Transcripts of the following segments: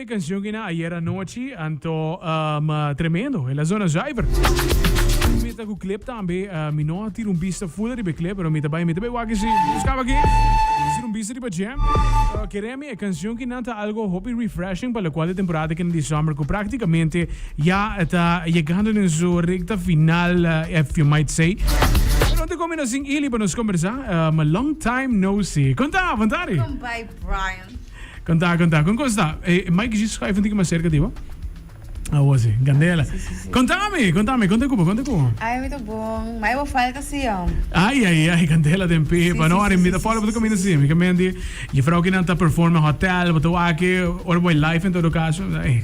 E cancion kina ayer anochi anto um tremendo el a zona zuiver mi ta cu clip tambe mi no a tira un bista full riba e clip pero mi ta bay mi ta bay wak esi buscaba aki mi tira un bista riba jam pero kere mi e cancion kina ta algo hopi refreshing pa locual e temporada kina di summer cu practicamente ya ta yegando den su recta final if you might say pero anto comina sin Elie pa nos conversa long time no see con ta avantari. Welkom by Brian. Kanta, kanta. Kon kos ta? E Mike G schuif un tiki mas cerca di bo. Awo si. Candela. Si, si, si. Contami, contami. Con ta Cuba, con ta Cuba? Ay, mi ta bon. May bo falta si yo. Ay, ay, ay, Candela den pepa. Si, no, si, arim, si, mi ta si, follow si, bo ta si, camina si, si. si. Mi ka menti, juffrouw kinan ta perform en hotel, bo ta wak aki, ora bo e live en todo caso. Ay.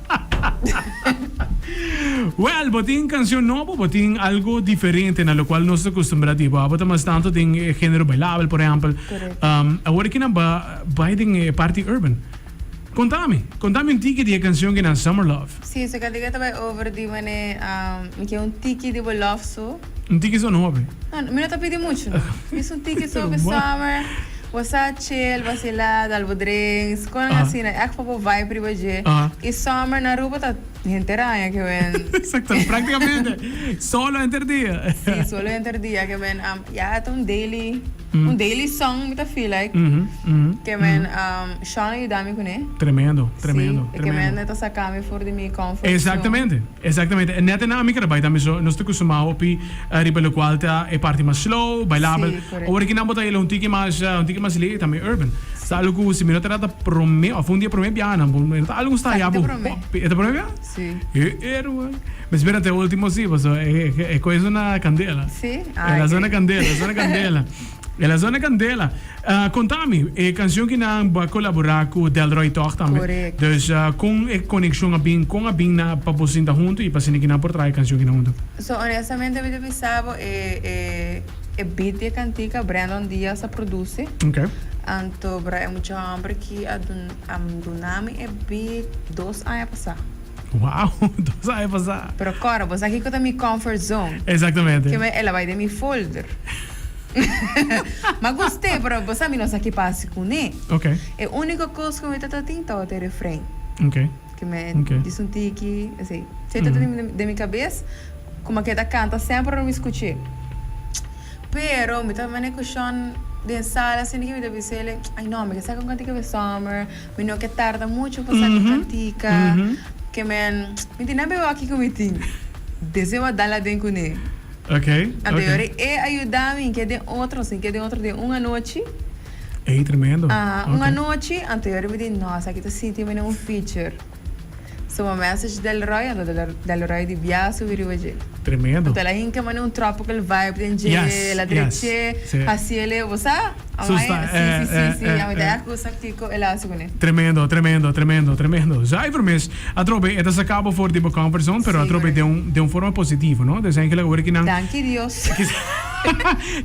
Well, bo tin cancion nobo, bo tin algo diferente na locual nos ta custumbrá di bo. Abo ta mas tanto den e género bailabel, por ehempel. Awor aki nan bai den e parti urban. Contá mi, contá mi un tiki di e cancion genan Summer Love. Sí, su cantica ta bai over di mane mi kier un tiki di bo love su. Un tiki so no hopi. No, mi no ta pidi muchu no. Bies un tiki so pe summer. Bo sa chill, vacila, dal bo drinks, conan asina. Echt pa bo vibe riba dje. Y summer na Aruba ta henter aña ke wen. Exacto, practicamente solo henter dia. Sí, solo henter dia ke wen. Ya ta un daily. Un daily song mi ta feel like ke men Sean a yuda mi kuné. Tremendo, tremendo, tremendo. Si, e ke men e ta saka mi for di mi comfort zone. Exactamente, exactamente. E nèt nan ami kere bai tambe so. Nos ta custumá hopi riba locual ta e parti mas slow, bailabel. Si, correcto. Awor ki nan bo ta hila un tiki mas, un tiki mas lei, tambe urban. Si. Ta alu ku si mi no ta trata prome of un dia prome biaha nan bo, mi no ta alu ku stayá bo. Sa ki ta prome? Hopi, e ta prome biaha? Si. He, e ruai. Mi spera te ultimo si, paso e koe sona candela. Si? Ah, Ela sona candela, e sona candela. Ela sona candela. Uh, contami, e cancion ki nan bo a colabora cu Delroy toch tambe. Correct. Dus uh, con e conexion a bin, con a bin na, pa bo sinta hunto y pa sende ki nan por traha e cancion kina hunto? So, honestamente mi ta bisabo e, e, e beat di e cantica Brandon Diaz a produce. Ok. Anto bra e mucha homber ki a dun, a duna mi e beat dos aña pasa. Wow! Tur sa e pasá. Pero Cora, bo sa kiko ta mi comfort zone? Exactamente. Ke me el a bai den mi folder. M'a gust'é, pero bo sa mi no sa ki pasa kuné. Ok. E úniko kos ku mi ta tatin tabata e refren. Ok. Ke me disa un tiki, así. Ke ta tatin den mi kabes, kuma ke ta kanta semper ora mi skuch'é. Pero mi ta man'é kushon den sala, asina ke mi ta bisa el, ai no, mi ke sa kon kanta e kabes summer. Mi no ke tarda mucho pa sa di practica ke men mi tin a bewa kiko mi tin deseo a dal aden kuné. Anterior e e a yuda mi ke den otro sin ke den otro den un anochi. Ey tremendo. Aha un anochi anterior mi di no esaki ta sitio mi na un feature. So mi a message Delroy ando Delroy di bia a subi riba dje. Tremendo. Tel a hinka mi na un tropical vibe den dje el a dreche haciele bo sa. Su sta eh. Tremendo, tremendo, tremendo, tremendo. Zuiver mes. Atrobe e ta saka bo for di bo comfort zone, pero atrobe den un den un forma positivo, no? Desa e kila ora ki nan Danki Dios.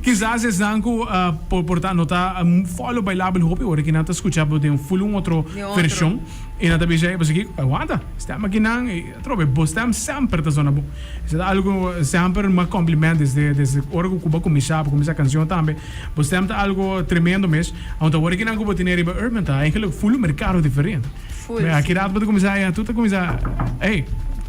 Kisas esnan ku por por ta no ta fòlo bailabel hopi ora ki nan ta skucha bo den full un otro vershon i nan ta bisa ei pasobra kiko? Aguanta, stèm a kinan i atrobe bo stèm semper ta sona bon. Esei ta algu semper un mas compliment desde desde ora ku bo a kuminsá, bo a kuminsá kansion tambe. Bo stem ta algo tremendo mes. Aunta awor kinan ku bo tene riba Urban ta eigenlijk full un merkado diferente. Full, Me a si. kidat bo ta kuminsá ya, tu ta kuminsá, Ey,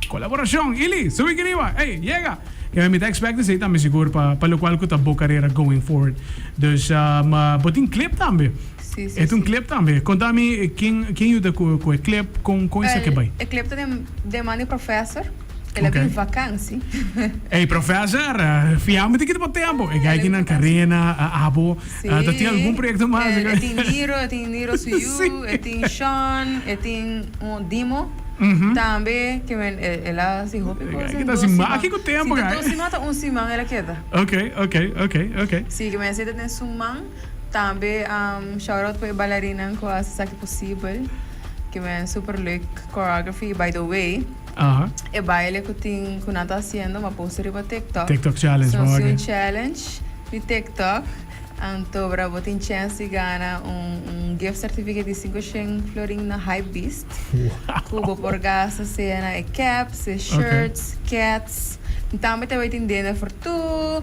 kolaborashon, Ili, subi aki riba, ey, yega. Ya mi ta expect esei tambe sigur pa pa lokual ku ta bo karera going forward. Dus ma bo tin klip tambe. Si, si, si. E ta un klip tambe. Konta mi ken ken yuda ku ku e klip, kon kon esaki a bai? E klip ta den den man di Professor. El a bin vakansi. Ey professor, fiambe di kito pa tempo. E geikinan Carena, e abo, ta tin algun proyecto mas? E tin Niro, e tin Niro su yu, e tin Sean, e tin un Dimo tambe ke men el a hasi hopi cosa en dos siman. Si ta dos siman ta un siman el a keda. Si ke men seta den su man, tambe shout out pa e balerinnan ku a hasi esaki posibel ke men super leuk choreography by the way. e baile cu tin cu nan ta haciendo ma posta riba TikTok. TikTok challenge, So, si un challenge di TikTok, antobra bo tin chance di gana un, un gift certificate di cinco shen florin na Hypebeast, cu bo por gasta sea na e caps, e shirts, cats, y tambe ta bay tin dinner for two,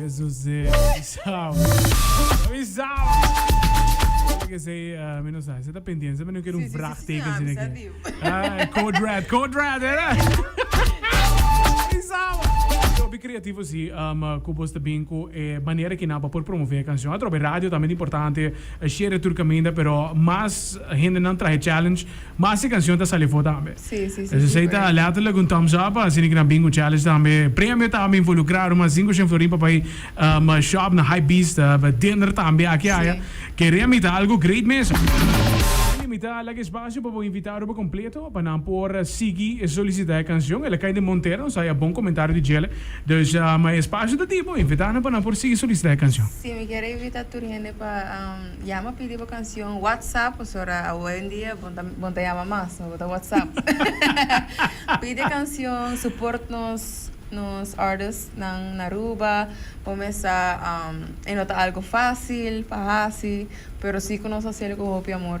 Jesusé, avisau. Avisau. Tiene que ser, eh, mi no sabe, se está pendiente, se me no quiere un Sí, sí, sí, vraag sí, teken, ah, tiene que. avisativo. Ah, code red, code red, era. Avisau. Yo, bi creativo, sí, um, eh, cu vos te bin cu eh, manera que napa por promover e canción. Atrobe radio tambe ta importante, eh, share tur caminda, pero mas hende nan trahe challenge. Mas e cancion ta sali afo tambe. Esey ta letterlijk un thumbs up. Asina ki na Bingo Challenge tambe premio ta involucrado. Mas sin cu Shen Florin pa bay shop na Hypebeast. Dinner tambe aki aya. Kere a mita algo great mesa. Tin limita lak espacio pa bo invitado pa completo pa nan por sigui solicita e cancion. El a cay den Montero. Nos a haja bon comentario di djele. Dus e espacio ta di. Bo invitanan pa nan por sigui solicita e cancion. Si mi quier invita tur hende pa. Yama pidi bo canción WhatsApp, pues ahora hoy en día bon ta, bon ta yama mas, no bota WhatsApp. pidi canción, support nos nos artists nan na Aruba, bo mesa um, e no ta algo fácil pa haci, pero sí cu nos haci el cu hopi amor.